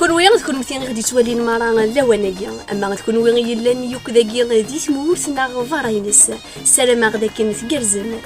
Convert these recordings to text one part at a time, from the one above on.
Kunwi d kunmti i ɣ-d-ittwalin mara lawan-agi, ama d kunwi i yellan yukked-agi di tmurt neɣ berra-ines, ssarameɣ d akken tgerrzem.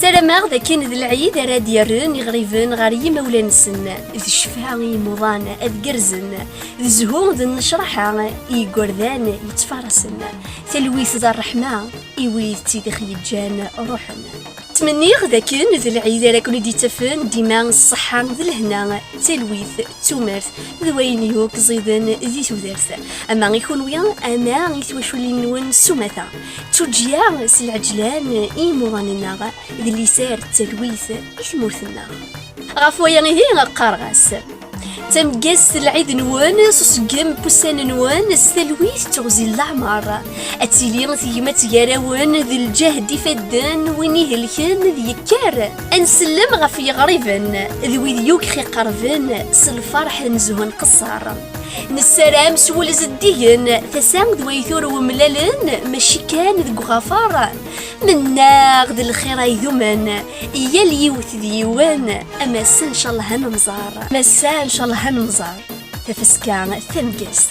Ssarameɣ d akken d lɛid ara d-yerren iɣriben ɣer yimawlan-nsen, d ccfa i yimuḍan ad gerzen, d zzhu d nnecraḥa i yigerdan yettfarasen, talwit d rreḥma i wid tt-id ɣ-yeǧǧan ruḥen. Ttmenniɣ d akken d lɛid ara ken-id-ittafen dima s ṣṣeḥḥa d lehna, d talwit, d tumert, d wayen yakk ẓiden di tudert, ama i kenwi, ama i twaculin-nwen s umata. Tuǧǧya s lɛeǧlan i yimuḍan-nneɣ, d liser d talwit i tmurt-nneɣ. Ɣef waya ihi qqareɣ-as. D tameggazt n lɛid-nwen, s uṣeggem n wussan-nwen, s talwit d teɣzi n leɛmer. Ad tili tegmat gar-awen, d lǧehd ifadden, win ihelken d yekker. Ad nsellem ɣef yiɣriben, d wid yugi iqerben, s lferḥ n zzhu nqesser. Nessaram s wul zeddigen tasa d wayt ur wemlalen maci kan deg uɣafar mennaɣ d lxir ay dumen yal yiwet d yiwen amassa ncallah ad nemẓar massa ncallah ad nemẓar tafeska tamgest